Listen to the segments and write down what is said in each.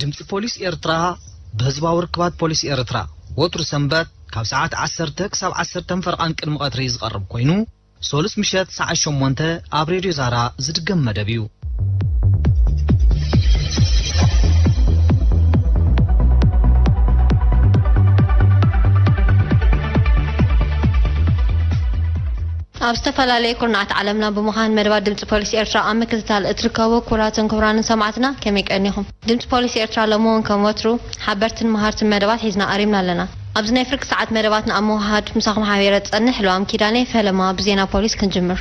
ድምፂ ፖሊስ ኤርትራ ብህዝባዊ ርክባት ፖሊስ ኤርትራ ወትሩ ሰንበት ካብ ሰዓት 10 ክሳብ 10 ፈርቓን ቅድሚ ቐትሪ ዝቐርብ ኮይኑ ሰሉስ ምሸት ሰዓት ሸሞንተ ኣብ ሬድዮ ዛራ ዝድገም መደብ እዩ። ኣብ ዝተፈላለየ ኩርናዓት ዓለምና ብምዃን መደባት ድምፂ ፖሊስ ኤርትራ ኣብ ምክትታል እትርከቡ ክቡራትን ክቡራንን ሰማዕትና ከመይ ቀኒኹም? ድምጺ ፖሊስ ኤርትራ ሎሚ ውን ከም ወትሩ ሓበርትን መሃርትን መደባት ሒዝና ቀሪብና ኣለና። ኣብዚ ናይ ፍርቂ ሰዓት መደባትና ኣብ ምውህሃድ ምሳኹም ሓቢረ ዝጸንሕ ልዋም ኪዳነይ ፈለማ ብዜና ፖሊስ ክንጅምር።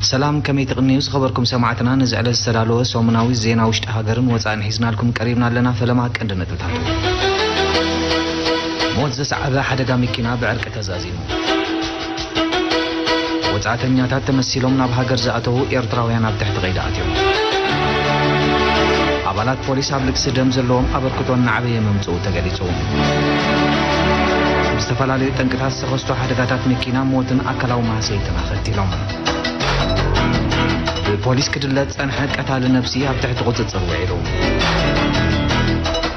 ሰላም ከመይ ትቅንዩ ዝኸበርኩም ሰማዕትና ነዚ ዕለት ዝተዳለወ ሰሙናዊ ዜና ውሽጢ ሃገርን ወጻእን ሒዝናልኩም ቀሪብና ኣለና ፈለማ ቀንዲ ነጥብታቱ። ሞት ዘስዓበ ሓደጋ መኪና ብዕርቂ ተዛዚሙ። ወጻእተኛታት ተመሲሎም ናብ ሃገር ዝኣተዉ ኤርትራውያን ኣብ ትሕቲ ቀይዲ ኣትዮም። ኣባላት ፖሊስ ኣብ ልግሲ ደም ዘለዎም ኣበርክቶ እናዓበየ ምምጽኡ ተገሊጹ። ብዝተፈላለዩ ጠንቅታት ዝተኸስቱ ሓደጋታት መኪና ሞትን ኣካላዊ ማህሰይትን ቀቲሎም። ብፖሊስ ክድለ ዝጸንሐ ቀታሊ ነብሲ ኣብ ትሕቲ ቁጽጽር ውዒሉ።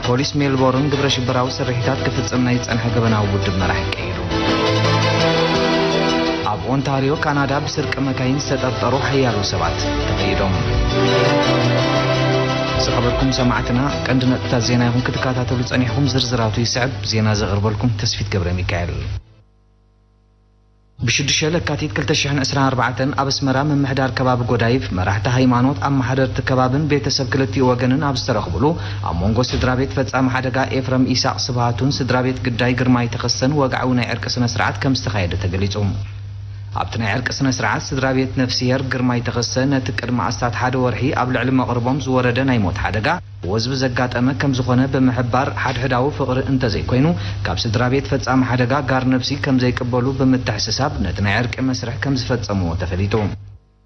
ፖሊስ ሜልቦርን ግብረ ሽበራዊ ስርሒታት ክፍጽም ናይ ዝጸንሐ ገበናዊ ውድብ መራሒ ቀይዱ። ኣብ ኦንታርዮ ካናዳ ብስርቂ መካይን ዝተጠርጠሩ ሓያሎ ሰባት ተቐይዶም። ዝኸበርኩም ሰማዕትና ቀንዲ ነጥብታት ዜና ይኹን ክትከታተሉ ጸኒሕኩም ዝርዝራቱ ይስዕብ ዜና ዘቕርበልኩም ተስፊት ገብረ ሚካኤል ብ ሽዱሽተ ለካቲት ክልተ ሽሕን ዕስራን ኣርባዕተን ኣብ ኣስመራ ምምሕዳር ከባቢ ጎዳይፍ፣ መራሕቲ ሃይማኖት፣ ኣመሓደርቲ ከባብን ቤተሰብ ክልቲኡ ወገንን ኣብ ዝተረኽብሉ፣ ኣብ ሞንጎ ስድራቤት ፈጻሚ ሓደጋ ኤፍረም ኢሳቕ ስብሃቱን ስድራቤት ግዳይ ግርማይ ተኸስተን ወግዓዊ ናይ ዕርቂ ስነስርዓት ከምዝተኻየደ ተገሊጹ። ኣብቲ ናይ ዕርቂ ስነስርዓት ስድራቤት ነፍስሄር ግርማይ ተኸስተ ነቲ ቅድሚ ኣስታት ሓደ ወርሒ ኣብ ልዕሊ መቕርቦም ዝወረደ ናይ ሞት ሓደጋ፣ ወዝቢ ዘጋጠመ ከምዝኾነ ብምሕባር፣ ሓድሕዳዊ ፍቕሪ እንተዘይኮይኑ ካብ ስድራቤት ፈጻሚ ሓደጋ ጋር ነብሲ ከምዘይቅበሉ ብምትሕስሳብ ነቲ ናይ ዕርቂ መስርሕ ከምዝፈጸምዎ ተፈሊጡ።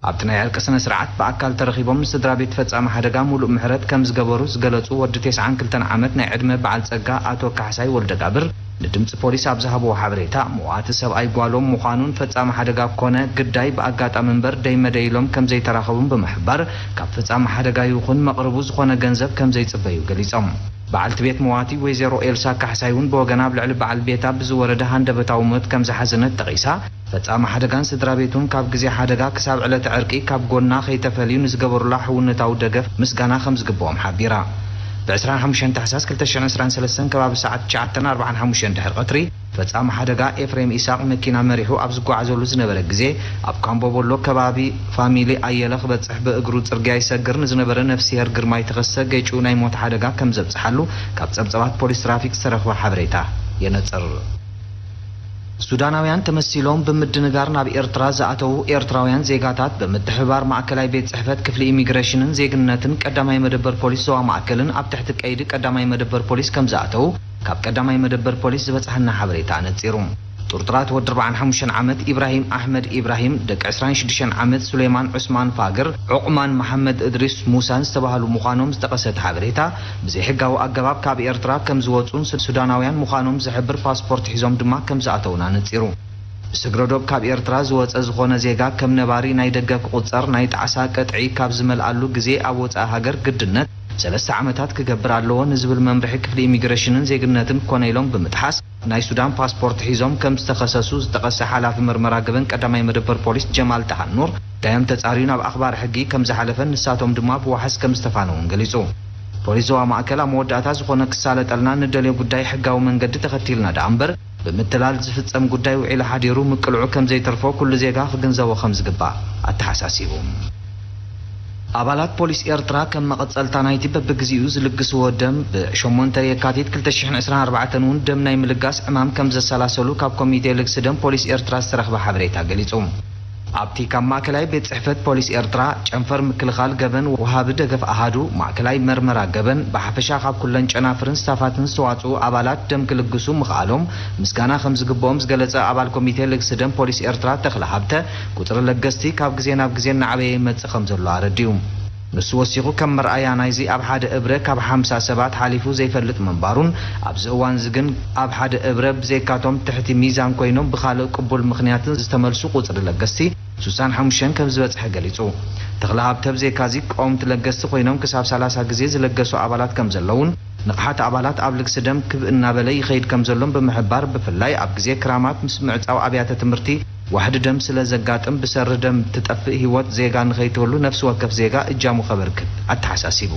ኣብቲ ናይ ዕርቂ ስነስርዓት ብኣካል ተረኺቦም ምስ ስድራቤት ፈጻሚ ሓደጋ ሙሉእ ምሕረት ከምዝገበሩ ዝገለጹ ወዲ ቴስዓን ክልተን ዓመት ናይ ዕድመ በዓል ጸጋ ኣቶ ካሕሳይ ወልደጋብር፣ ንድምጺ ፖሊስ ኣብ ዝሃብዎ ሓበሬታ፣ መዋቲ ሰብኣይ ጓሎም ምዃኑን ፈጻሚ ሓደጋ ኮነ ግዳይ ብኣጋጣሚ እምበር ደይ መደይ ኢሎም ከምዘይተራኸቡን ብምሕባር፣ ካብ ፈጻሚ ሓደጋ ይኹን መቕርቡ ዝኾነ ገንዘብ ከምዘይጽበዩ ገሊጾም። በዓልቲ ቤት መዋቲ ወይዘሮ ኤልሳ ካሕሳይ'ውን ብወገና ኣብ ልዕሊ በዓል ቤታ ብዝወረደ ሃንደበታዊ ሞት ከምዝሓዘነት ጠቒሳ፣ ፈጻሚ ሓደጋን ስድራቤቱን ካብ ግዜ ሓደጋ ክሳብ ዕለተ ዕርቂ ካብ ጎና ከይተፈልዩ ንዝገበሩላ ሕውነታዊ ደገፍ ምስጋና ከም ዝግብኦም ሓቢራ። ብ ዕስራን ሓሙሽተን ታሕሳስ ክልተ ሽሕን ዕስራን ሰለስተን ከባቢ ሰዓት ትሽዓተን ኣርብዓን ሓሙሽተን ድሕሪ ቀትሪ፣ ፈጻሚ ሓደጋ ኤፍሬም ኢሳቕ መኪና መሪሑ ኣብ ዝጓዓዘሉ ዝነበረ ግዜ ኣብ ካምቦቦሎ ከባቢ ፋሚሊ ኣየለ ክበጽሕ ብእግሩ ጽርግያ ይሰግር ንዝነበረ ነፍሲሄር ግርማይ ተኸስተ ገጭዩ ናይ ሞት ሓደጋ ከም ዘብጽሓሉ ካብ ጸብጸባት ፖሊስ ትራፊክ ዝተረኽበ ሓበሬታ የነጽር። ሱዳናውያን ተመሲሎም ብምድንጋር ናብ ኤርትራ ዝኣተዉ ኤርትራውያን ዜጋታት ብምትሕብባር ማእከላይ ቤት ጽሕፈት ክፍሊ ኢሚግረሽንን ዜግነትን ቀዳማይ መደበር ፖሊስ ዞባ ማእከልን ኣብ ትሕቲ ቀይዲ ቀዳማይ መደበር ፖሊስ ከምዝኣተዉ ካብ ቀዳማይ መደበር ፖሊስ ዝበጽሓና ሓበሬታ ኣነጺሩ። ጥርጡራት ወዲ ኣርብዓን ሓሙሽተን ዓመት ኢብራሂም ኣሕመድ ኢብራሂም፣ ደቂ ዕስራን ሽዱሽተን ዓመት ሱሌማን ዑስማን ፋግር፣ ዑቕማን መሓመድ እድሪስ ሙሳን ዝተባህሉ ምዃኖም ዝጠቐሰ እቲ ሓበሬታ፣ ብዘይሕጋዊ ኣገባብ ካብ ኤርትራ ከም ዝወጹን ሱዳናውያን ምዃኖም ዝሕብር ፓስፖርት ሒዞም ድማ ከም ዝኣተዉን ኣነጺሩ። ብስግረዶብ ካብ ኤርትራ ዝወጸ ዝኾነ ዜጋ ከም ነባሪ ናይ ደገ ክቑጸር ናይ ጣዕሳ ቅጥዒ ካብ ዝመልኣሉ ግዜ ኣብ ወጻኢ ሃገር ግድነት ሰለስተ ዓመታት ክገብር ኣለዎ ንዝብል መምርሒ ክፍሊ ኢሚግረሽንን ዜግነትን ኮነ ኢሎም ብምጥሓስ ናይ ሱዳን ፓስፖርት ሒዞም ከም ዝተኸሰሱ ዝጠቐሰ ሓላፊ ምርመራ ገበን ቀዳማይ መደበር ፖሊስ ጀማል ጣሃ ኑር፣ ጉዳዮም ተፃርዩ ናብ ኣኽባሪ ሕጊ ከም ዝሓለፈን ንሳቶም ድማ ብዋሕስ ከም ዝተፋነው እውን ገሊፁ። ፖሊስ ዞባ ማእከል ኣብ መወዳእታ ዝኾነ ክሳለጠልና ንደልዮ ጉዳይ ሕጋዊ መንገዲ ተኸቲልና ደኣ እምበር ብምትላል ዝፍፀም ጉዳይ ውዒሉ ሓዲሩ ምቅልዑ ከም ዘይተርፎ ኩሉ ዜጋ ክግንዘቦ ከም ዝግባእ ኣተሓሳሲቡ። ኣባላት ፖሊስ ኤርትራ ከም መቐጸልታ ናይቲ በብግዜኡ ዝልግስዎ ደም፣ ብ ሸሞንተ የካቲት ክልተ ሽሕን ዕስራን ኣርባዕተን እውን ደም ናይ ምልጋስ ዕማም ከም ዘሰላሰሉ ካብ ኮሚቴ ልግሲ ደም ፖሊስ ኤርትራ ዝተረኽበ ሓበሬታ ገሊጹ። ኣብቲ ካብ ማእከላይ ቤት ጽሕፈት ፖሊስ ኤርትራ፣ ጨንፈር ምክልኻል ገበን ወሃቢ ደገፍ ኣሃዱ ማእከላይ መርመራ ገበን፣ ብሓፈሻ ካብ ኩለን ጨናፍርን ስታፋትን ዝተዋጽኡ ኣባላት ደም ክልግሱ ምኽኣሎም ምስጋና ከም ዝግብኦም ዝገለጸ ኣባል ኮሚቴ ልግሲ ደም ፖሊስ ኤርትራ ተኽለ ሃብተ፣ ቁጽሪ ለገስቲ ካብ ግዜ ናብ ግዜ እናዓበየ ይመጽእ ከምዘሎ ኣረዲኡ። ንሱ ወሲኹ ከም መርኣያ ናይዚ ኣብ ሓደ እብረ ካብ ሓምሳ ሰባት ሓሊፉ ዘይፈልጥ ምንባሩን ኣብዚ እዋንዚ ግን ኣብ ሓደ እብረ ብዘይካቶም ትሕቲ ሚዛን ኮይኖም ብኻልእ ቅቡል ምኽንያትን ዝተመልሱ ቁጽሪ ለገስቲ ስሳን ሓሙሽተን ከምዝበጽሐ ገሊጹ። ተኽለሃብተ ብዘይካዚ ቀወምቲ ለገስቲ ኮይኖም ክሳብ ሰላሳ ግዜ ዝለገሱ ኣባላት ከምዘለዉን ንቕሓት ኣባላት ኣብ ልግሲ ደም ክብ እናበለ ይኸይድ ከምዘሎን ብምሕባር ብፍላይ ኣብ ግዜ ክራማት ምስ ምዕጻው ኣብያተ ትምህርቲ ዋሕዲ ደም ስለ ዘጋጥም ብሰሪ ደም ትጠፍእ ህይወት ዜጋ ንኸይትህሉ ነፍሲ ወከፍ ዜጋ እጃሙ ከበርክት ኣተሓሳሲቡ።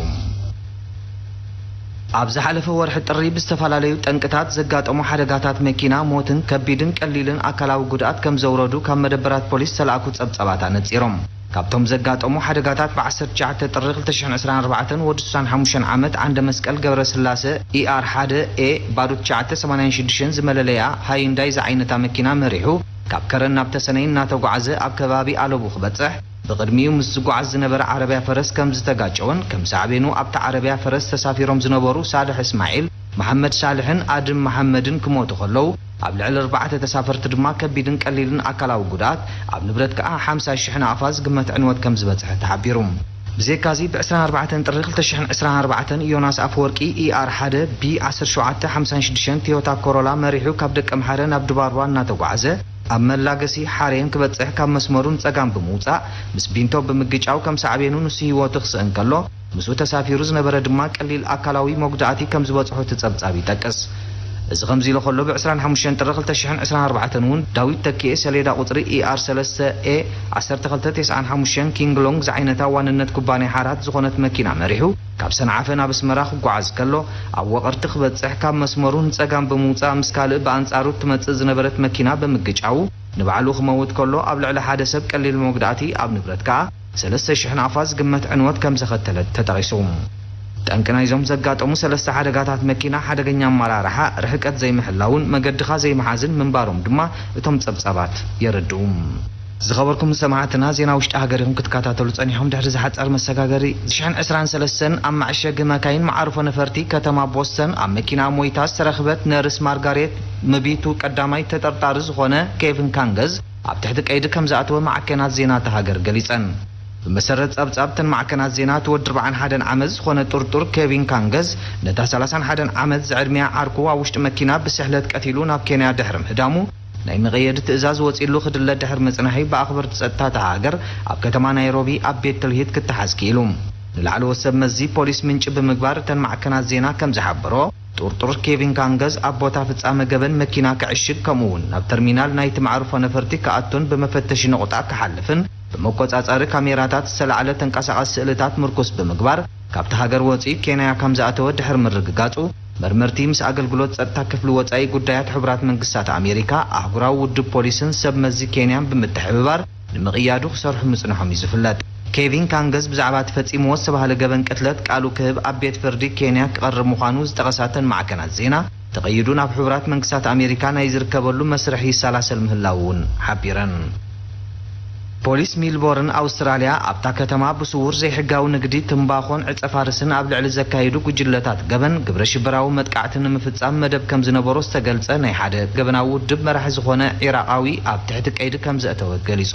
ኣብ ዝሓለፈ ወርሒ ጥሪ ብዝተፈላለዩ ጠንቅታት ዘጋጠሙ ሓደጋታት መኪና ሞትን ከቢድን ቀሊልን ኣካላዊ ጉድኣት ከም ዘውረዱ ካብ መደበራት ፖሊስ ዝተላእኩ ፀብፃባት ኣነፂሮም። ካብቶም ዘጋጠሙ ሓደጋታት ብ ዓሰርተ ትሽዓተ ጥሪ ክልተ ሽሕን ዕስራን ኣርባዕተን ወዲ ስሳን ሓሙሽተን ዓመት ዓንደመስቀል ገብረስላሰ፣ ER ሓደ A ባዶ ትሽዓተ ሰማንያን ሽዱሽተን፣ ዝመለለይኣ ሃዩንዳይ ዝዓይነታ መኪና መሪሑ ካብ ከረን ናብ ተሰነይ እናተጓዕዘ ኣብ ከባቢ ኣለቡ ክበጽሕ ብቕድሚኡ ምስ ዝጓዓዝ ዝነበረ ዓረብያ ፈረስ ከም ዝተጋጨወን ከም ሳዕቤኑ ኣብታ ዓረብያ ፈረስ ተሳፊሮም ዝነበሩ ሳልሕ እስማዒል፣ መሓመድ ሳልሕን ኣድም መሓመድን ክሞቱ ከለዉ፣ ኣብ ልዕሊ ኣርባዕተ ተሳፈርቲ ድማ ከቢድን ቀሊልን ኣካላዊ ጉድኣት፣ ኣብ ንብረት ከኣ ሓምሳ ሽሕ ናቕፋ ዝግመት ዕንወት ከም ዝበጽሐ ተሓቢሩ። ብዘይካ'ዚ ብ ዕስራን ኣርባዕተን ጥሪ ክልተ ሽሕን ዕስራን ኣርባዕተን ዮናስ ኣፈወርቂ ER ሓደ B ዓሰርተ ሸውዓተ ሓምሳን ሽዱሽተን ቶዮታ ኮሮላ መሪሑ ካብ ደቀምሓረ ናብ ድባርዋ እናተጓዕዘ ኣብ መላገሲ ሓሬን ክበጽሕ ካብ መስመሩ ንጸጋም ብምውጻእ ምስ ቢንቶ ብምግጫው ከም ሳዕቤኑ ንሱ ህይወቱ ክስእን ከሎ ምስኡ ተሳፊሩ ዝነበረ ድማ ቀሊል ኣካላዊ መጉዳእቲ ከም ዝበጽሖ እቲ ጸብጻብ ይጠቅስ። እዚ ከምዚ ኢሉ ከሎ ብ ዕስራን ሓሙሽተን ጥሪ ክልተ ሽሕን ዕስራን ኣርባዕተን እውን ዳዊት ተኪኤ ሰሌዳ ቁጽሪ ER ሰለስተ A ዓሰርተ ክልተ ቴስዓን ሓሙሽተን ኪንግ ሎንግ ዝዓይነታ ዋንነት ኩባንያ ሓራት ዝኾነት መኪና መሪሑ ካብ ሰንዓፈ ናብ ኣስመራ ክጓዓዝ ከሎ ኣብ ወቐርቲ ክበጽሕ ካብ መስመሩ ንጸጋም ብምውጻእ ምስ ካልእ ብኣንጻሩ እትመጽእ ዝነበረት መኪና ብምግጫዉ ንባዕሉ ክመውት ከሎ ኣብ ልዕሊ ሓደ ሰብ ቀሊል መጉዳእቲ ኣብ ንብረት ከኣ ሰለስተ ሽሕ ናቕፋ ዝግመት ዕንወት ከምዘኸተለት ተጠቒሱ። ጠንቂ ናይዞም ዘጋጠሙ ሰለስተ ሓደጋታት መኪና፣ ሓደገኛ ኣመራርሓ፣ ርሕቀት ዘይምሕላውን መገድኻ ዘይምሓዝን ምንባሮም ድማ እቶም ጸብጻባት የረድኡ። ዝኸበርኩም ሰማዕትና ዜና ውሽጢ ሃገር ኢኹም ክትከታተሉ ጸኒሕኩም ድሕሪ ዝሓጸር መሰጋገሪ ዝሽሕን ዕስራን ሰለስተን ኣብ መዐሸጊ መካይን መዓርፎ ነፈርቲ ከተማ ቦስተን ኣብ መኪናኣ ሞይታ ዝተረኽበት ነርስ ማርጋሬት ምቢቱ ቀዳማይ ተጠርጣሪ ዝኾነ ኬቭን ካንገዝ ኣብ ትሕቲ ቀይዲ ከምዝኣተወ ማዕከናት ዜና እታ ሃገር ገሊጸን። ብመሰረት ጸብጻብ እተን ማዕከናት ዜና፣ እቲ ወዲ ኣርብዓን ሓደን ዓመት ዝኾነ ጥርጡር ኬቪን ካንገዝ፣ ነታ ሰላሳን ሓደን ዓመት ዝዕድሚኣ ዓርኩ ኣብ ውሽጢ መኪና ብስሕለት ቀቲሉ ናብ ኬንያ ድሕሪ ምህዳሙ፣ ናይ መቐየዲ ትእዛዝ ወጺእሉ ክድለ ድሕሪ ምጽናሒ ብኣኽበርቲ ጸጥታ እታ ሃገር ኣብ ከተማ ናይሮቢ ኣብ ቤት ትልሂት ክተሓዝ ክኢሉ። ንላዕለዎት ሰብ መዚ ፖሊስ ምንጪ ብምግባር እተን ማዕከናት ዜና ከምዝሓበሮ፣ ጥርጡር ኬቪን ካንገዝ ኣብ ቦታ ፍጻመ ገበን መኪና ክዕሽግ ከምኡ'ውን ናብ ተርሚናል ናይቲ መዓርፎ ነፈርቲ ክኣቱን ብመፈተሺ ነቝጣ ክሓልፍን ብመቈጻጸሪ ካሜራታት ዝተላዕለ ተንቀሳቓሲ ስእልታት ምርኩስ ብምግባር ካብታ ሃገር ወጺኡ ኬንያ ከም ዝኣተወ ድሕሪ ምርግጋጹ መርመርቲ ምስ ኣገልግሎት ጸጥታ ክፍሊ ወጻኢ ጉዳያት ሕቡራት መንግስታት ኣሜሪካ ኣህጉራዊ ውድብ ፖሊስን ሰብ መዚ ኬንያን ብምትሕብባር ንምቕያዱ ክሰርሑ ምጽንሖም እዩ ዝፍለጥ። ኬቪን ካንገዝ ብዛዕባ እቲ ፈጺምዎ ዝተባህለ ገበን ቅትለት ቃሉ ክህብ ኣብ ቤት ፍርዲ ኬንያ ክቐርብ ምዃኑ ዝጠቐሳ እተን ማዕከናት ዜና፣ ተቐይዱ ናብ ሕቡራት መንግስታት ኣሜሪካ ናይ ዝርከበሉ መስርሕ ይሰላሰል ምህላዉ እውን ሓቢረን። ፖሊስ ሚልቦርን ኣውስትራልያ ኣብታ ከተማ ብስዉር ዘይሕጋዊ ንግዲ ትምባኾን ዕጸፋርስን ኣብ ልዕሊ ዘካይዱ ጉጅለታት ገበን ግብረሽበራዊ መጥቃዕቲ ንምፍጻም መደብ ከምዝነበሮ ዝተገልጸ ናይ ሓደ ገበናዊ ውድብ መራሒ ዝኾነ ዒራቓዊ ኣብ ትሕቲ ቀይዲ ከምዘእተወ ገሊጹ።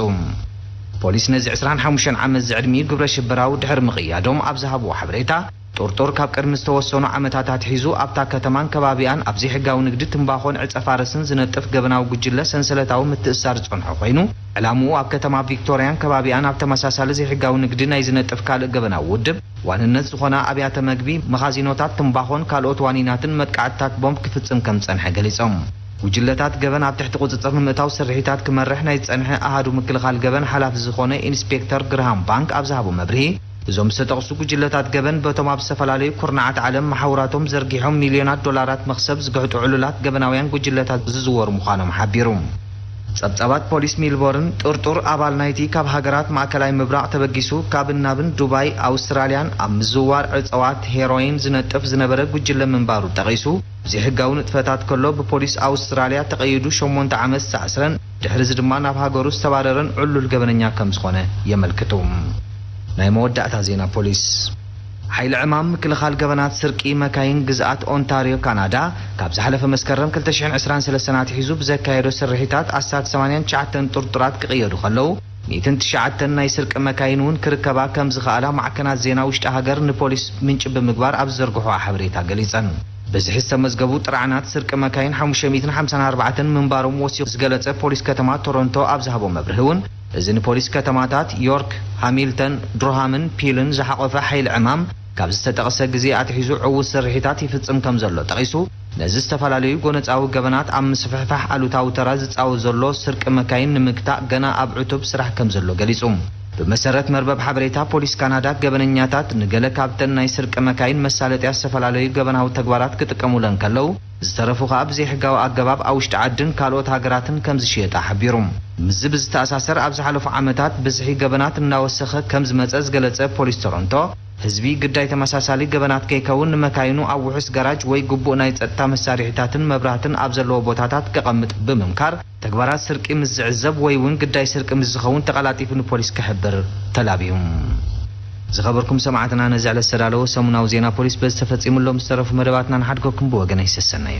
ፖሊስ ነዚ ዕስራን ሓሙሽተን ዓመት ዝዕድሚኡ ግብረ ሽበራዊ ድሕሪ ምቕያዶም ኣብ ዝሃብዎ ሓበሬታ፣ ጥርጡር ካብ ቅድሚ ዝተወሰኑ ዓመታት ኣትሒዙ ኣብታ ከተማን ከባቢኣን ኣብ ዘይሕጋዊ ንግዲ ትምባኾን ዕጸ ፋረስን ዝነጥፍ ገበናዊ ጉጅለ ሰንሰለታዊ ምትእስሳር ዝጸንሖ ኮይኑ፣ ዕላምኡ ኣብ ከተማ ቪክቶርያን ከባቢኣን ኣብ ተመሳሳሊ ዘይሕጋዊ ንግዲ ናይ ዝነጥፍ ካልእ ገበናዊ ውድብ ዋንነት ዝኾና ኣብያተ መግቢ፣ መኻዚኖታት ትምባኾን ካልኦት ዋኒናትን መጥቃዕትታት ቦምብ ክፍጽም ከምዝጸንሐ ገሊጾም። ጉጅለታት ገበን ኣብ ትሕቲ ቁፅፅር ንምእታው ስርሒታት ክመርሕ ናይ ዝፀንሐ ኣሃዱ ምክልኻል ገበን ሓላፊ ዝኾነ ኢንስፔክተር ግርሃም ባንክ ኣብ ዝሃቦ መብርሂ እዞም ዝተጠቕሱ ጉጅለታት ገበን በቶም ኣብ ዝተፈላለዩ ኩርናዓት ዓለም መሓውራቶም ዘርጊሖም ሚልዮናት ዶላራት መኽሰብ ዝግሕጡ ዕሉላት ገበናውያን ጉጅለታት ዝዝወሩ ምዃኖም ሓቢሩ። ፀብፃባት ፖሊስ ሚልቦርን፣ ጥርጡር ኣባል ናይቲ ካብ ሃገራት ማእከላይ ምብራቕ ተበጊሱ ካብን ናብን ዱባይ፣ ኣውስትራልያን ኣብ ምዝውዋር ዕፀዋት፣ ሄሮይን፣ ዝነጥፍ ዝነበረ ጉጅለ ምንባሩ ጠቒሱ፣ ዘይሕጋዊ ንጥፈታት ከሎ ብፖሊስ ኣውስትራልያ ተቐይዱ ሸሞንተ ዓመት ዝተኣስረን ድሕሪዚ ድማ ናብ ሃገሩ ዝተባረረን ዕሉል ገበነኛ ከም ዝኾነ የመልክቱ። ናይ መወዳእታ ዜና ፖሊስ ሓይሊ ዕማም ምክልኻል ገበናት ስርቂ መካይን ግዝኣት ኦንታርዮ ካናዳ ካብ ዝሓለፈ መስከረም ክልተ ሽሕን ዕስራን ሰለስተን ኣትሒዙ ብዘካየዶ ስርሒታት ኣስታት ሰማንያን ትሽዓተን ጥርጡራት ክቕየዱ ከለው ሚእትን ትሽዓተን ናይ ስርቂ መካይን እውን ክርከባ ከምዝኸኣላ ማዕከናት ዜና ውሽጢ ሃገር ንፖሊስ ምንጪ ብምግባር ኣብ ዝዘርግሖኦ ሓበሬታ ገሊፀን። ብዝሒ ዝተመዝገቡ ጥርዓናት ስርቂ መካይን ሓሙሽተ ሚእትን ሓምሳን ኣርባዕተን ምንባሮም ወሲኹ ዝገለፀ ፖሊስ ከተማ ቶሮንቶ ኣብ ዝሃቦ መብርሂ እውን እዚ ንፖሊስ ከተማታት ዮርክ፣ ሃሚልተን፣ ድርሃምን ፒልን ዝሓቖፈ ሓይሊ ዕማም ካብ ዝተጠቕሰ ግዜ ኣትሒዙ ዕዉት ስርሒታት ይፍፅም ከምዘሎ ጠቒሱ ነዚ ዝተፈላለዩ ጎነጻዊ ገበናት ኣብ ምስፍሕፋሕ ኣሉታዊ ተራ ዝጻወት ዘሎ ስርቂ መካይን ንምግታእ ገና ኣብ ዕቱብ ስራሕ ከምዘሎ ገሊጹ። ብመሰረት መርበብ ሓበሬታ ፖሊስ ካናዳ፣ ገበነኛታት ንገለ ካብተን ናይ ስርቂ መካይን መሳለጥያ ዝተፈላለዩ ገበናዊ ተግባራት ክጥቀሙለን ከለው፣ ዝተረፉ ከኣ ብዘይሕጋዊ ኣገባብ ኣብ ውሽጢ ዓድን ካልኦት ሃገራትን ከምዝሽየጣ ሓቢሩ። ምስዚ ብዝተኣሳሰር ኣብ ዝሓለፉ ዓመታት ብዝሒ ገበናት እናወሰኸ ከምዝመጸ ዝገለጸ ፖሊስ ቶሮንቶ፣ ህዝቢ ግዳይ ተመሳሳሊ ገበናት ከይከውን ንመካይኑ ኣብ ውሑስ ጋራጅ ወይ ግቡእ ናይ ጸጥታ መሳርሒታትን መብራህትን ኣብ ዘለዎ ቦታታት ከቐምጥ ብምምካር፣ ተግባራት ስርቂ ምስ ዝዕዘብ ወይ'ውን ግዳይ ስርቂ ምስ ዝኸውን ተቐላጢፉ ንፖሊስ ክሕብር ተላብዩ። ዝኸበርኩም ሰማዕትና ነዚ ዕለት ዝተዳለወ ሰሙናዊ ዜና ፖሊስ በዚ ተፈጺሙ ኣሎ። ምስ ዝተረፉ መደባትና ንሓድገኩም ብወገነይ ሰሰናዩ።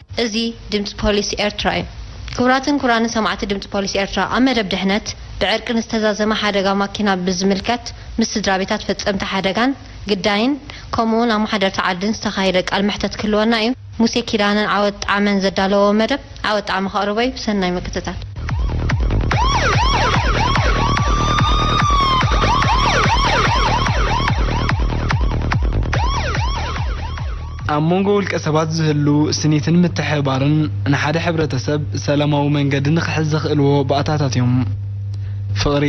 እዚ ድምጺ ፖሊስ ኤርትራ እዩ። ክቡራትን ክቡራንን ሰማዕቲ ድምጺ ፖሊስ ኤርትራ ኣብ መደብ ድሕነት ብዕርቂ ንዝተዛዘመ ሓደጋ ማኪና ብዝምልከት ምስ ስድራቤታት ፈጸምቲ ሓደጋን ግዳይን ከምኡውን ኣማሓደርቲ ዓድን ዝተኻየደ ቃል መሕተት ክህልወና እዩ ሙሴ ኪዳነን ዓወት ጣዕመን ዘዳለወዎ መደብ ዓወት ጣዕመ ከቕርቦ እዩ ሰናይ ምክትታል። ኣብ መንጎ ውልቀ ሰባት ዝህሉ ስኒትን ምትሕብባርን ንሓደ ሕብረተሰብ ሰላማዊ መንገዲ ንክሕዝ ዘኽእልዎ ባእታታት እዮም። ፍቕሪ፣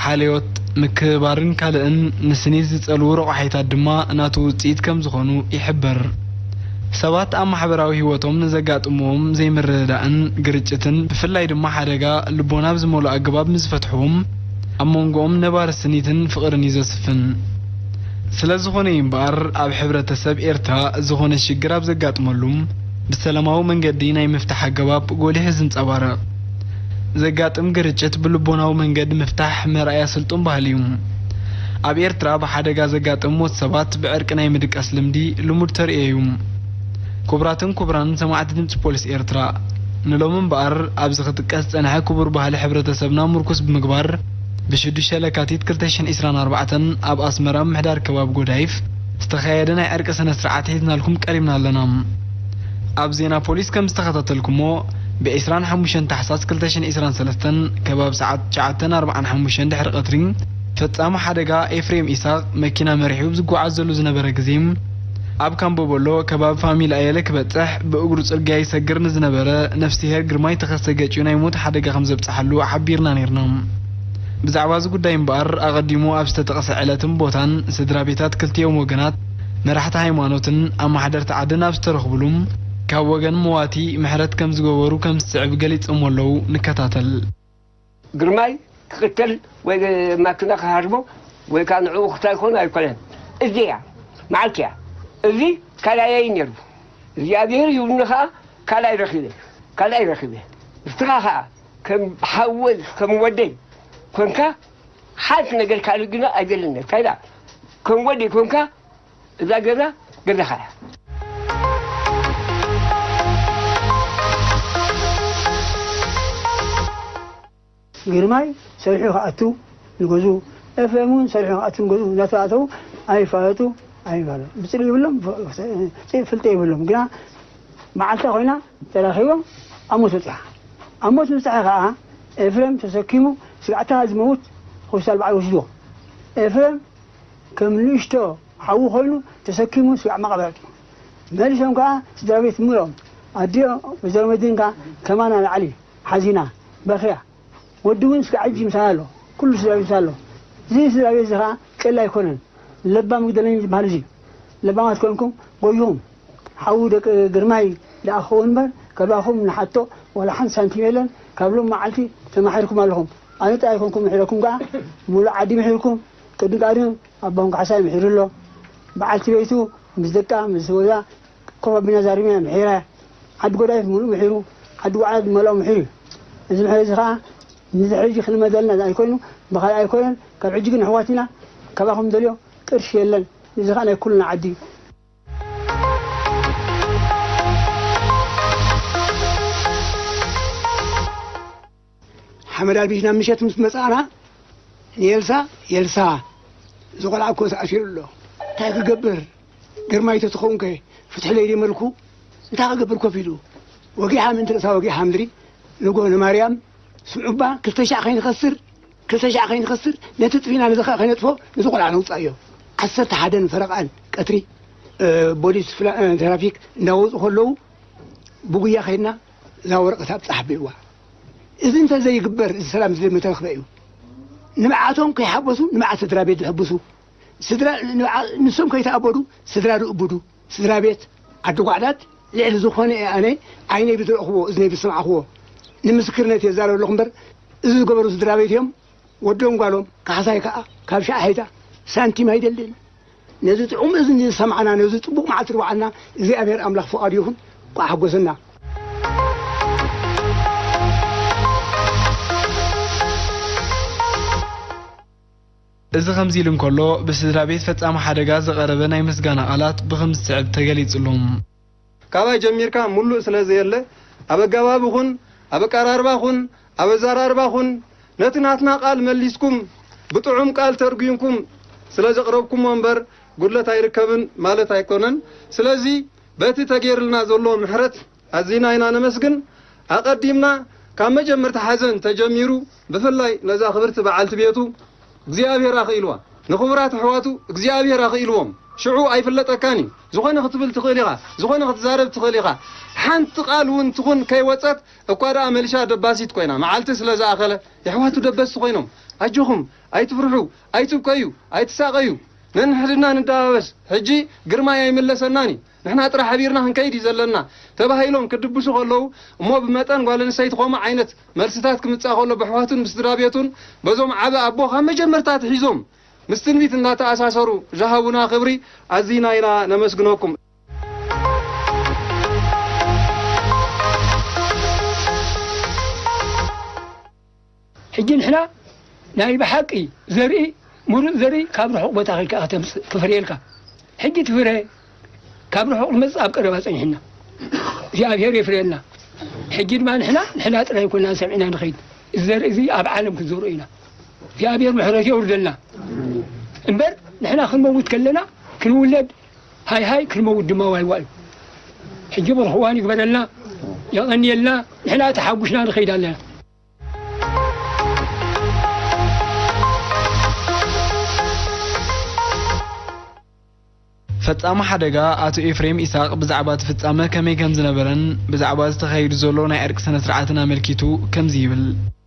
ሓልዮት፣ ምክብባርን ካልእን ንስኒት ዝጸልዉ ረቋሒታት ድማ ናቱ ውጽኢት ከም ዝኾኑ ይሕበር። ሰባት ኣብ ማሕበራዊ ህይወቶም ንዘጋጥምዎም ዘይምርድዳእን ግርጭትን ብፍላይ ድማ ሓደጋ ልቦና ብዝመልኦ ኣገባብ ምስ ዝፈትሕዎም ኣብ መንጎኦም ነባሪ ስኒትን ፍቕርን እዩ ዘስፍን። ስለዝኾነ እዩ እምበኣር ኣብ ሕብረተሰብ ኤርትራ ዝኾነ ሽግር ኣብ ዘጋጥመሉ ብሰላማዊ መንገዲ ናይ ምፍታሕ ኣገባብ ጎሊሑ ዝንጸባረቕ። ዘጋጥም ግርጭት ብልቦናዊ መንገዲ ምፍታሕ መርኣያ ስልጡን ባህሊ እዩ። ኣብ ኤርትራ ብሓደጋ ዘጋጥም ሞት ሰባት ብዕርቂ ናይ ምድቃስ ልምዲ ልሙድ ተርእዮ እዩ። ክቡራትን ክቡራን ሰማዕቲ ድምጺ ፖሊስ ኤርትራ ንሎሚ እምበኣር ኣብዚ ክጥቀስ ዝጸንሐ ክቡር ባህሊ ሕብረተሰብና ምርኩስ ብምግባር፣ ብሽዱሽተ ለካቲት ክልተ ሽሕን ዒስራን ኣርባዕተን ኣብ ኣስመራ ምምሕዳር ከባቢ ጎዳይፍ ዝተኻየደ ናይ ዕርቂ ስነ ስርዓት ሒዝናልኩም ቀሪብና ኣለና። ኣብ ዜና ፖሊስ ከም ዝተኸታተልኩሞ ብ ዕስራን ሓሙሽተን ታሕሳስ ክልተ ሽሕን ዒስራን ሰለስተን ከባቢ ሰዓት ትሽዓተን ኣርብዓን ሓሙሽተን ድሕሪ ቀትሪ ፈጻሚ ሓደጋ ኤፍሬም ኢሳቕ መኪና መሪሑ ኣብ ዝጓዓዘሉ ዝነበረ ግዜ ኣብ ካምቦቦሎ ከባቢ ፋሚል ኣየለ ክበጽሕ ብእግሩ ጽርግያ ይሰግር ንዝነበረ ነፍስሄር ግርማይ ተኸስተ ገጭዩ ናይ ሞት ሓደጋ ከምዘብጽሓሉ ሓቢርና ኔርና። ብዛዕባ'ዚ ጉዳይ እምበኣር ኣቐዲሙ ኣብ ዝተጠቕሰ ዕለትን ቦታን ስድራቤታት ክልቲኦም ወገናት፣ መራሕቲ ሃይማኖትን ኣማሓደርቲ ዓድን ኣብ ዝተረኽቡሉ ካብ ወገን መዋቲ ምሕረት ከምዝገበሩ ከምዝስዕብ ገሊጸሞ ኣለዉ። ንከታተል። ግርማይ ክቅተል ወይ ማኪና ክሃርሞ ወይ ካኣ ንዕኡ ክታይኮን ኣይኮነን እዚ እያ ማዓልቲ እያ እዚ ካላየይ ነይሩ እግዚኣብሄር ሂቡኒ ካኣ ካልኣይ ረኪበ ካልኣይ ረኪበ ንስካ ካኣ ከም ሓወይ ከም ወደይ ኮንካ ሓንቲ ነገር ካልእ ግና ኣይደልን እታይ ዳኣ ከም ወደይ ኮንካ እዛ ገዛ ገዛኻ እያ። ግርማይ ሰሪሑ ክኣቱ ንገዝኡ፣ ኤፍሬም እውን ሰሪሑ ክኣቱ ንገዝኡ እናተኣተዉ ኣይፋለጡ ኣይባሉ ብፅልኢ ይብሎም ፍልጠ ይብሎም ግና መዓልታ ኮይና ተራኺቦም ኣብ ሞት በፂሓ ኣብ ሞት ምብፃሐ ከዓ ኤፍሬም ተሰኪሙ ስጋዕታ ዝመውት ሆስፒታል በዓል ወሲድዎ ኤፍሬም ከም ንእሽቶ ሓዊ ኮይኑ ተሰኪሙ ስጋዕ መቓብር ኣእትዩ። መሊሶም ከኣ ስድራቤት ምሉኦም፣ ኣዲኡ ወይዘሮ መድህን ከኣ ከማና ንላዕሊ ሓዚና በኽያ። ወዲ እውን ስጋዕ ሕጂ ምሳና ኣሎ። ኩሉ ስድራቤት ምሳና ኣሎ። እዚ ስድራቤት እዚ ከኣ ቀሊል ኣይኮነን። ለባም ይጉደለኒ ዝበሃል እዚ እዩ። ለባማት ኮንኩም ጎይኹም። ሓዊ ደቂ ግርማይ ደኣ ክኸውን እምበር ካባኹም ንሓቶ ዋላ ሓንቲ ሳንቲም የለን። ካብ ሎሚ መዓልቲ ተማሒርኩም ኣለኹም። ኣነ ጥራይ ኣይኮንኩምን ምሒረኩም ከኣ ምሉእ ዓዲ ምሒርኩም። ቅድሚ ቀርኒ ኣቦም ካሕሳይ ምሒሩ ኣሎ። በዓልቲ ቤቱ ምስ ደቃ ምስ ህይወታ ኮፍ ኣቢልና ዛሪብና ምሒራ እያ። ዓዲ ጎዳይፍ ምሉእ ምሒሩ፣ ዓዲ ዋዕላ ዝመልኦ ምሒሩ እዩ። እዚ ምሒር እዚ ከኣ ንድሕሪ ሕጂ ክልመደልና ዝኣይ ኮይኑ ብኻልእ ኣይኮነን። ካብ ሕጂ ግን ኣሕዋት ኢና። ካባኹም ንደልዮ ቅርሺ የለን። እዚ ከኣ ናይ ኩልና ዓዲ እዩ። ሓመድ ኣልቢስ ናብ ምሸት ምስ መጻእና ንኤልሳ ኤልሳ እዚ ቆልዓ እኮ ተኣሲሩ ኣሎ እንታይ ክገብር ግርማይ ተትኸውንከ ፍትሒ ለይዲ መልኩ እንታይ ክገብር ኮፍ ኢሉ ወጊሓ ምእንቲ ርእሳ ወጊሓ ምድሪ ንጎ ንማርያም ስምዑባ ክልተ ሻዕ ከይንኸስር ክልተ ሻዕ ከይንኸስር ነቲ ጥፊና ነዚ ከ ከይነጥፎ ነዚ ቆልዓ ነውፃእዮ ዓሰርተ ሓደን ፈረቓን ቀትሪ ቦሊስ ትራፊክ እንዳወፁ ከለዉ ብጉያ ከይድና እዛ ወረቐት ኣብፃሕ ቢልዋ እዚ እንተዘይግበር እዚ ሰላም እዚ ዘይምተረኽበ እዩ። ንብዓቶም ከይሓጎሱ ንብዓት ስድራ ቤት ዝሕጉሱ፣ ስድራ ንብዓ ንሶም ከይተኣበዱ ስድራ ዝእብዱ ስድራ ቤት ዓዲ ጓዕዳድ ልዕሊ ዝኾነ እየ ኣነ ዓይነይ ብዝረእኽዎ እዝነይ ብዝሰምዓኽዎ ንምስክርነት እየ ዝዛረብ ኣለኹ እምበር እዚ ዝገበሩ ስድራ ቤት እዮም ወዶም ጓሎም ካሕሳይ ከዓ ካብ ሻዕሐይታ ሳንቲም ኣይደልን። ነዚ ጥዑም እዝኒ ዝሰምዓና ነዚ ጽቡቅ መዓልቲ ድውዓልና እግዚኣብሔር ኣምላክ ፍቃዱ ይኩን እንቋዕ ሓጎሰና። እዚ ከምዚ ኢሉ እንከሎ፣ ብስድራቤት ፈጻሚ ሓደጋ ዝቐረበ ናይ ምስጋና ቃላት ብኽም ዝስዕብ ተገሊጽሉ። ካባይ ጀሚርካ ሙሉእ ስለዘየለ ኣብ ኣጋባቢ ኹን ኣብ ኣቃራርባ ኹን ኣብ ኣዛራርባ ኹን ነቲ ናትና ቃል መሊስኩም ብጥዑም ቃል ተርጉምኩም ስለዘቅረብኩሞ እምበር ጉድለት ኣይርከብን ማለት ኣይኮነን ስለዚ በቲ ተገይርልና ዘሎ ምሕረት ኣዚና ኢና ነመስግን ኣቀዲምና ካብ መጀመርታ ሓዘን ተጀሚሩ ብፍላይ ነዛ ክብርቲ በዓልቲ ቤቱ እግዚኣብሔር ኣኽኢልዋ ንኽቡራት ኣሕዋቱ እግዚኣብሔር ኣኽኢልዎም ሽዑ ኣይፍለጠካን እዩ ዝኾነ ክትብል ትኽእል ኢኻ ዝኾነ ክትዛረብ ትኽእል ኢኻ ሓንቲ ቃል እውን ትኹን ከይወፀት እኳ ደኣ መልሻ ደባሲት ኮይና መዓልቲ ስለ ዝኣኸለ የሕዋቱ ደበስቲ ኮይኖም ኣጆኹም ኣይትፍርሑ ኣይትብከዩ ኣይትሳቐዩ ነንሕድና ንደባበስ ሕጂ ግርማይ ኣይምለሰናን እዩ ንሕና ጥራሕ ሕቢርና ክንከይድ እዩ ዘለና ተባሂሎም ክድብሱ ከለዉ እሞ ብመጠን ጓል ኣንስተይቲ ኮምኡ ዓይነት መልስታት ክምጻእ ከሎ በሕዋቱን ብስድራ ቤቱን በዞም ዓቢ ኣቦ ካብ መጀመርታ ኣትሒዞም ምስ ትንቢት እንዳተኣሳሰሩ ዝሃቡና ክብሪ ኣዚና ኢና ነመስግነኩም። ሕጂ ንሕና ናይ ብሓቂ ዘርኢ ሙሩጽ ዘርኢ ካብ ርሑቅ ቦታ ከድካ ኢካ ተምጽእ ክፍርየልካ ሕጂ እቲ ፍረ ካብ ርሑቅ ዝመጽእ ኣብ ቀረባ ጸኒሕና እግዚኣብሄር የፍርየልና ሕጂ ድማ ንሕና ንሕና ጥራይ ኮና ሰሚዕና ንኸይድ እዚ ዘርኢ እዚ ኣብ ዓለም ክንዘርኦ ኢና እግዚኣብሄር ምሕረት የውርደልና እምበር ንሕና ክንመውት ከለና ክንውለድ ሃይ ሃይ ክንመውት ድማ ዋይ ዋይ ሕጂ ብሩኽ እዋን ይግበረልና የቐንየልና ንሕና ተሓጉስና ንኸይድ ኣለና። ፈጻሚ ሓደጋ ኣቶ ኤፍሬም ኢሳቕ ብዛዕባ እቲ ፍጻመ ከመይ ከምዝነበረን ብዛዕባ እዚ ተኻይዱ ዘሎ ናይ ዕርቂ ስነ ስርዓትን ኣመልኪቱ ከምዚ ይብል።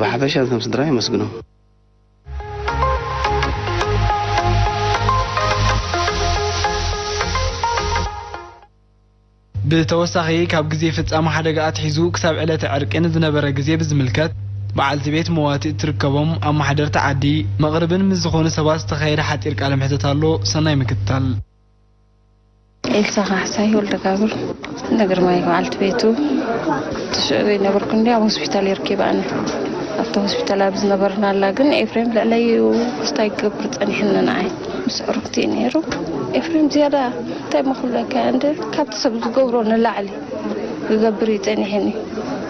ብሓፈሻ ከም ስድራ የመስግኖም። ብተወሳኺ ካብ ግዜ ፍፃመ ሓደጋ ኣትሒዙ ክሳብ ዕለተ ዕርቂ ንዝነበረ ግዜ ብዝምልከት በዓልቲ ቤት መዋቲ እትርከቦም ኣማሓደርቲ ዓዲ መቕርብን ምስ ዝኾኑ ሰባት ዝተኻየደ ሓፂር ቃለ መሕተት ኣሎ ሰናይ ምክትታል። ኤልሳ ካሕሳይ ወልደጋብር ንግርማይ በዓልቲ ቤቱ ትሽዑ ዘይነበርኩ እንዲ ኣብ ሆስፒታል የርኪባኒ ኣብቲ ሆስፒታል ኣብ ዝነበርናላ ግን ኤፍሬም ልዕለይኡ ስታይ ክገብር ጸኒሕኒ ንዓይ ምስ ዕሩክቲ እዩ ነይሩ ኤፍሬም ዝያዳ እንታይ መክብለካ እንደ ካብቲ ሰብ ዝገብሮ ንላዕሊ ክገብር እዩ ጸኒሕኒ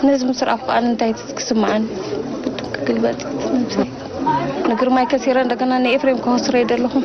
ነዚ ምስ ረኣኹ ከዓ እንታይ ክስምዓኒ ግልበጥ ንግርማይ ከሲረ እንደገና ንኤፍሬም ከወስረ ይደለኹም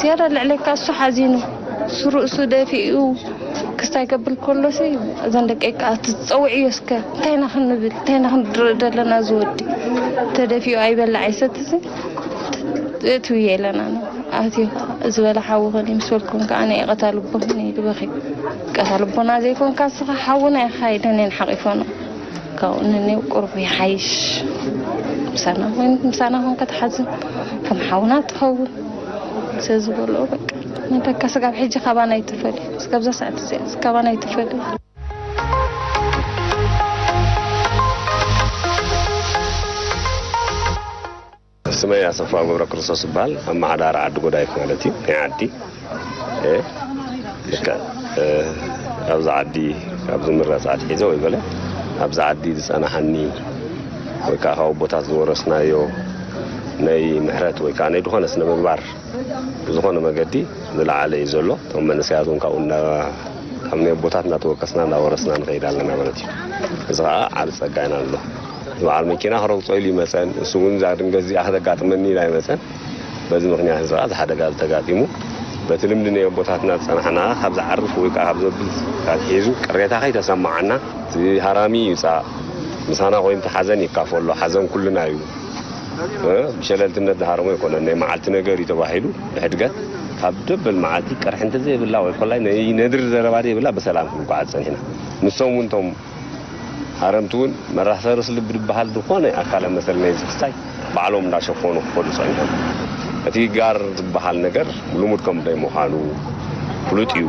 ዝያዳ ልዕለካ እሱ ሓዚኑ እሱ ርእሱ ደፊኡ ክስታይ ከብል ከሎሲ እዘን ደቂ ከዓ ትፀውዕዮ እስከ እንታይ ኢና ክንብል እንታይ ኢና ክንድርኢ ዘለና ዝወዲ ተደፊኡ ኣይበላዕ ይሰት እዚ ትብየ ኣለና ኣትዮ ከዓ እዚ በላ ሓውኸን ምስ በልኩም ከዓ ናይ ቀታልቦን ይበኺ ቀታልቦና ዘይኮንካ ስኻ ሓውና ኢኻ ኢለን እየን ሓቂፎና ካብኡ ንንብ ቁርብ ይሓይሽ ምሳና ኮይንት ምሳና ኮንከ ትሓዝን ከም ሓውና ትኸውን ስለዝበልኦ በቃ ንደካ ስጋብ ሕጂ ካባና ይትፈልዩ ስጋብዛ ሰዓት እዚኣ ካባና ይትፈልዩ ስመይ ኣሰፋው ገብረክርስቶስ እባል ኣማሓዳሪ ዓዲ ጎዳይፍ ማለት እዩ ናይ ዓዲ እየ ልክዕ ኣብዚ ዓዲ ካብ ዝምረፅ ኣትሒዘ ወይ በለ ኣብዚ ዓዲ ዝፀናሓኒ ወይ ከዓ ካብ ኣቦታት ዝወረስናዮ ናይ ምሕረት ወይ ከዓ ናይ ዝኾነ ስነ ምግባር ብዝኾነ መገዲ ዝለዓለ እዩ ዘሎ እቶም መንእሰያት እውን ካብኡ ካብ ናይ ኣቦታት እናተወከስና እናወረስና ንኸይድ ኣለና ማለት እዩ እዚ ከዓ ዓብ ፀጋ ኢና ኣሎ እቲ በዓል መኪና ክረግፆ ኢሉ ይመፀን ንሱ እውን እዛ ድንገት እዚኣ ክተጋጥመኒ ኢሉ ኣይመፀን። በዚ ምኽንያት እዚ ከዓ እዚ ሓደጋ እዚ ተጋጢሙ። በቲ ልምዲ ናይ ኣቦታትና ዝፀናሕና ካብ ዝዓርፍ ወይ ከዓ ካብ ዘብል ኣትሒዙ ቅሬታ ከይተሰመዓና፣ እቲ ሃራሚ ይውፃእ ምሳና ኮይኑ እቲ ሓዘን ይካፈሎ ሓዘን ኩልና እዩ ብሸለልትነት ዝሃረሞ ኣይኮነን ናይ መዓልቲ ነገር እዩ ተባሂሉ ብሕድገት ካብ ደበል መዓልቲ ቅርሕንቲ ዘይብላ ወይ ኮላይ ናይ ነድሪ ዘረባ ዘይብላ ብሰላም ክንጓዓዝ ፀኒሕና ንሶም እውን እቶም ሃረምቲ ውን መራሕተ ርእሲ ልቢ ድበሃል ድኾነ ኣካለ መሰል ናይዚ ክስታይ ባዕሎም እንዳሸፈኑ ክኸዱ ጸኒሖም። እቲ ጋር ዝበሃል ነገር ልሙድ ከምዘይ ምዃኑ ፍሉጥ እዩ።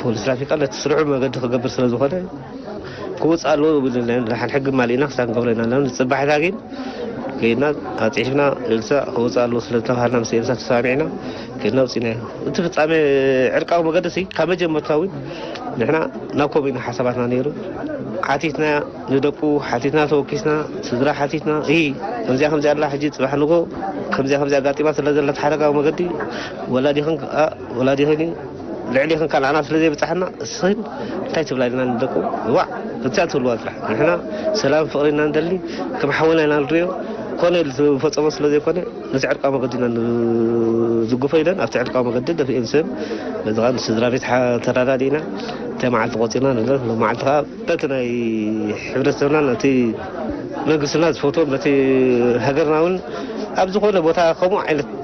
ፖሊስ ትራፊካ ነቲ ስርዑ ብመገዲ ክገብር ስለ ዝኾነ ክውፅ ኣለዎ ይብል ና ንሓን ሕጊ ማሊእና ክሳብ ንገብረ ኢና ኣለና ንፅባሒታ ግን ከይድና ኣፅሒፍና ኤልሳ ክውፅ ኣለዎ ስለ ዝተባሃልና ምስ ኤልሳ ተሰማሚዕና ከይድና ውፅኢና ኢና እቲ ፍፃሜ ዕርቃዊ መገዲ ሲ ካብ መጀመርታ እውን ንሕና ናብ ከምኡ ኢና ሓሳባትና ነይሩ ሓቲትና ንደቁ ሓቲትና ተወኪስና ስድራ ሓቲትና እ ከምዚኣ ከምዚኣ ኣላ ሕጂ ፅባሕ ንጎ ከምዚኣ ከምዚኣ ኣጋጢማ ስለ ዘለት ሓረጋዊ መገዲ ወላዲኽን ወላዲኽን ልዕሊኽን ካል ኣና ስለ ዘይብጻሕና እስኽን እንታይ ትብላ ኢልና ንደቁ ዋዕ ብትያ ትብልዋ ጥራሕ ንሕና ሰላም ፍቕሪ ኢና ንደሊ ከም ሓውና ኢና ንሪኦ ኮነ ኢሉ ዝፈጸሞ ስለ ዘይኮነ ነቲ ዕርቃዊ መገዲ ኢና ንዝጉፎ ኢለን ኣብቲ ዕርቃዊ መገዲ ደፊኤን ስም በዚኻ ንስድራ ቤት ተረዳዲእና እንታይ መዓልቲ ቆጺርና ንብለን ሎም መዓልቲ ከዓ በቲ ናይ ሕብረተሰብና ነቲ መንግስትና ዝፈትዎም ነቲ ሃገርና እውን ኣብ ዝኾነ ቦታ ከምኡ ዓይነት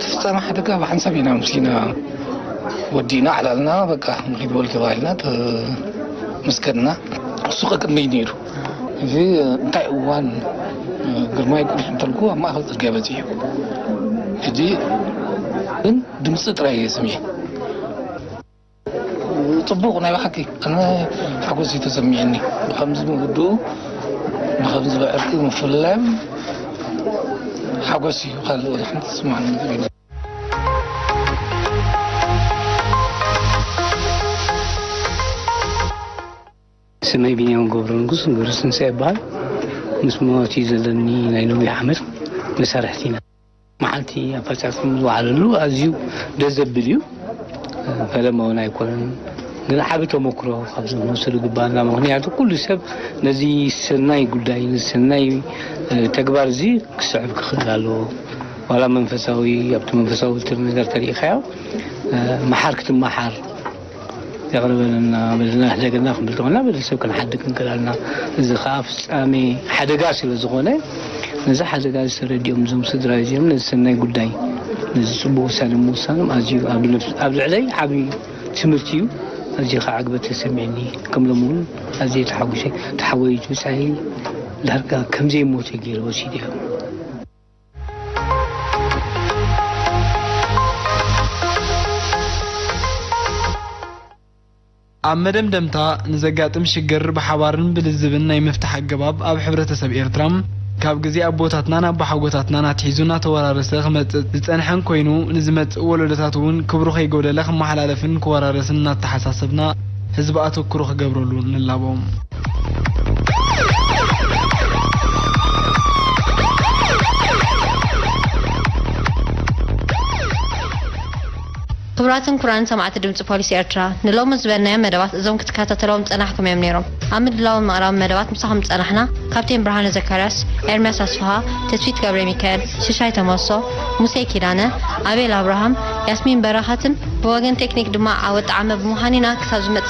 ትፍጸም ሓደ ካብ ሓንሳብ ኢና ምስሊና ወዲእና ዕላልና በቃ ንኪድ በሉ ተባሂልና ምስ ከድና እሱ ከቅድመይ ነይሩ እዚ እንታይ እዋን ግርማይ ቁልፍ እንተልኩ ኣብ ማእኸል ፅርግያ በፂሑ ሕጂ ግን ድምፂ ጥራይ እየ ሰሚዐ ጽቡቕ ናይ ብሓቂ ኣነ ሓጎስ እዩ ተሰሚዕኒ ብከምዚ ምውድኡ ብከምዚ ብዕርቂ ምፍላዮም ሓጎስ እዩ ካልእ ወላ ሓንቲ ዝስማዓኒ ነገር የለን። ስመይ ቢንያም ገብረንጉስ ገብረትንሳኤ ይበሃል ምስ ሞት እዩ ዘለኒ ናይ ነዊሕ ዓመት መሳርሕቲ ኢና። መዓልቲ ኣፈፃፀም ዝወዓለሉ ኣዝዩ ደስ ዘብል እዩ። ፈለማ እውን ኣይኮነን ግን ዓቢ ተሞክሮ ካብ ዝመሰሉ ይግባና ምክንያቱ ኩሉ ሰብ ነዚ ሰናይ ጉዳይ ነዚ ሰናይ ተግባር እዚ ክስዕብ ክኽእል ኣለዎ ዋላ መንፈሳዊ ኣብቲ መንፈሳዊ ትር ነገር ተሪኢኻዮ መሓር ክትመሓር የቕርበልና በልና ንሕደገልና ክንብል ተኾና በዚ ሰብ ክንሓድግ ክንክእል ኣልና እዚ ከኣ ፍጻሜ ሓደጋ ስለ ዝኾነ ነዚ ሓደጋ እዚ ተረዲኦም እዞም ስድራ እዚኦም ነዚ ሰናይ ጉዳይ ነዚ ጽቡቅ ውሳነ ምውሳኖም ኣዝዩ ኣብ ልዕለይ ዓቢ ትምህርቲ እዩ ኣዝዩ ከዓ ዕግበት ተሰሚዕኒ ከም ሎም እውን ኣዝየ ተሓጒሰ ተሓወይቱ ጻይ ዳርጋ ከምዘይሞተ ገይረ ወሲድዮ ኣብ መደምደምታ ንዘጋጥም ሽግር ብሓባርን ብልዝብን ናይ ምፍታሕ ኣገባብ ኣብ ሕብረተሰብ ኤርትራ ካብ ግዜ ኣቦታትናን ኣቦሓጎታትናን ኣትሒዙ እናተወራረሰ ክመጽእ ዝጸንሐን ኮይኑ ንዝመጽእ ወለዶታት እውን ክብሩ ከይጎደለ ክመሓላለፍን ክወራረስን እናተሓሳሰብና ህዝቢ ኣተኩሮ ክገብረሉ ንላቦ። ክቡራትን ኩራን ሰማዕቲ ድምፂ ፖሊሲ ኤርትራ ንሎሚ ዝበልናዮም መደባት እዞም ክትከታተለዎም ዝጸናሕኩም እዮም ነይሮም ኣብ ምድላውን ምቕራብ መደባት ምሳኹም ዝጸናሕና ካፕቴን ብርሃነ ዘካርያስ ኤርምያስ ኣስፍሃ ተስፊት ገብረ ሚካኤል ሽሻይ ተመሶ ሙሴ ኪዳነ ኣቤል ኣብርሃም ያስሚን በረኸትን ብወገን ቴክኒክ ድማ ዓወት ጣዕመ ብምዃን ኢና ክሳብ ዝመጽእ